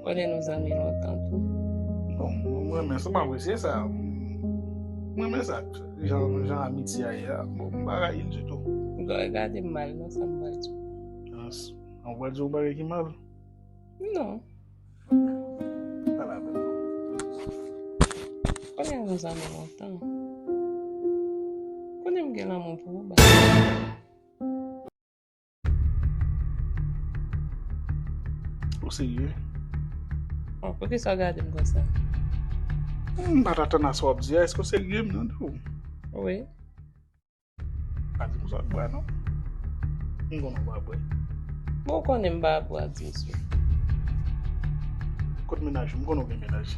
Konnen nou zanmi lontan tou. Bon, mwen renmen sa, mwen apresye sa. Mwen renmen sa. Jan amitye a ye a, bon, mwen pa rayi l ditou. Ou pa gade m mal nan sa m pral di w. Ans, an w pral di yon bagay ki mal? Non. Pa la pèn. Konnen nou zanmi lontan. Konnen m gen lanmou pou ou, ba. Ou serye? Bon, pou ki sa w gade m konsa? M pa t atann a sa w ap di a. Èske w serye m mande w? Wi. Pa di m sa w ap bwè non. M konnen w pa bwè. Bon, ou konnen m pa bwè ak mesye. Kot menaj ou? M konnen w gen menaj.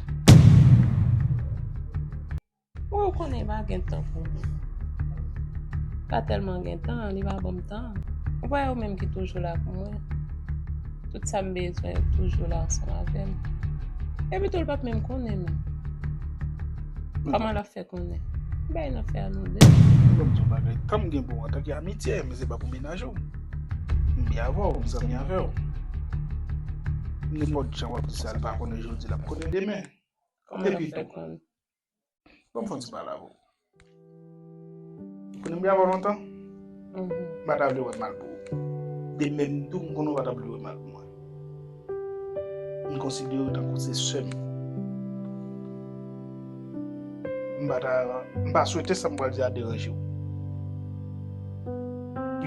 Mwen ou konnen pa gen tan pou mwen. Pa tèlman gen tan, li pa banm tan. Ou pa wè ou menm ki toujou la pou mwen. Tout sa m bezwen ou toujou la ansanm avè m. Epi tou l pa p menm konnen menm. Kòman l ap fè konnen? M bay nan fè a nou de. Ou banm di yon bagay, tan m gen pou ou antan ke amitye, men se pa pou menaj ou. M byen avè w, m zanmi avè w. Nenpòt jan w ap di sa, l pa konnen jodi, l ap konnen demen. Kòman l ap fè konnen? Banm fon ti pale avè w. Ou konnen m gen avè w lontan? M pa ta vle wè mal pou ou. De menm tou m konnen ou pa ta vle wè mal pou mwen. M konsidere w tankou se sè m. M pa ta, m pa swete sa m pral di a deranje w.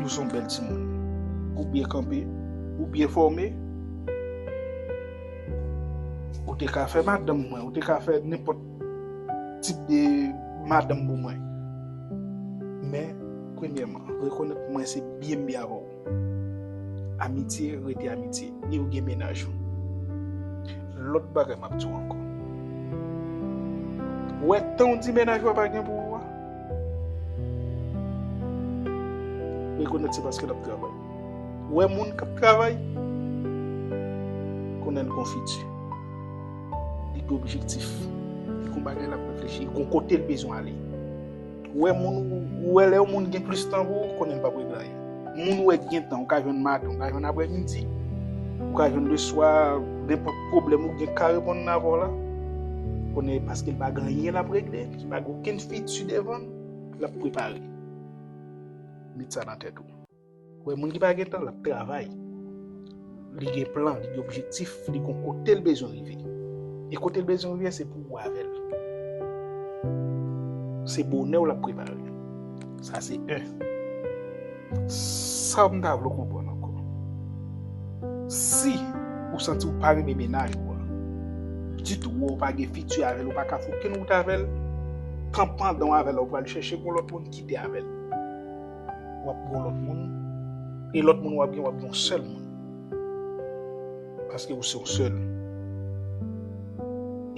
Ou son bèl timoun. Ou byen kanpe, ou byen fòme. Ou te ka fè madanm mwen, ou te ka fè nenpòt tip de madanm pou mwen. Men, premyèman, rekonèt mwen se byen byen avè ou. Amitye rete amitye, ni ou gen menaj ou. Lòt bagay map di ou ankò. Ou wè tan ou di menaj ou a pa gen pou ou a? Rekonèt se paske lap travay. Ou wè moun kap travay konnen l gon fiti. Li gen objektif. Li gon bagay lap reflechi. Li gon kote l bezwen ale. Ou wè moun, ou wè lè yon moun gen plis tan pou ou, konnen l pap regle anyen. Moun ou wè ki gen tan, ou ka jwenn maten, ou ka jwenn aprè midi, ou ka jwenn le swa, nenpòt pwoblèm ou gen ka reponn nan avè w la. Konnen l paske l pa gen anyen lap regle, li pa gen okenn fiti devan l, lap prepare. Met sa nan tèt ou. Wè moun ki pa gen tan lap travay, li gen plan, li gen objektif, li kon kote l bezwen rive. E kote l bezwen rive se pou ou avè l. Se bonè ou lap prepare. Sa se 1. Sa m ta vle konprann ankò. Si ou santi ou pa renmen menaj ou an, ditou ou pa gen fiti avè l, ou pa ka fè okenn wout avè l, tan pandan ou avè l la ou pral chèche pou lòt moun kite avè l. w ap gen yon lòt moun, e lòt moun w ap gen, w ap gen yon sèl moun. Paske ou se yon sèl.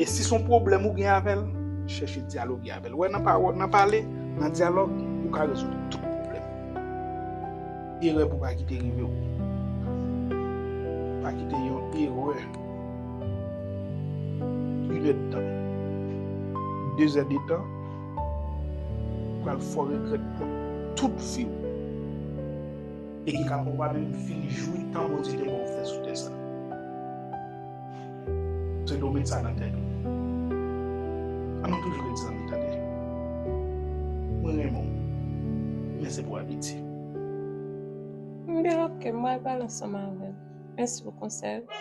E si son pwoblèm ou gen avèl, chèche dyaloge avèl. Wè nan pawòl, nan pale, nan dyalòg, ou ka rezoud tout pwoblèm. Erè pou pa kite rive ou. Pa kite yon erè. Inèd tan. Dezè detan. Ou pral fò regrèt pou tout viw. E ki ka pwobableman fin jwi tan Bondye te baw fè sou tè sa. Se dwe w met sa nan tèt ou. Annou toujou ret zanmi tande. Mwen renmen w men se pou abitye. M gen ok m pral pale ansanm avèl. Mèsi pou konsèy ou.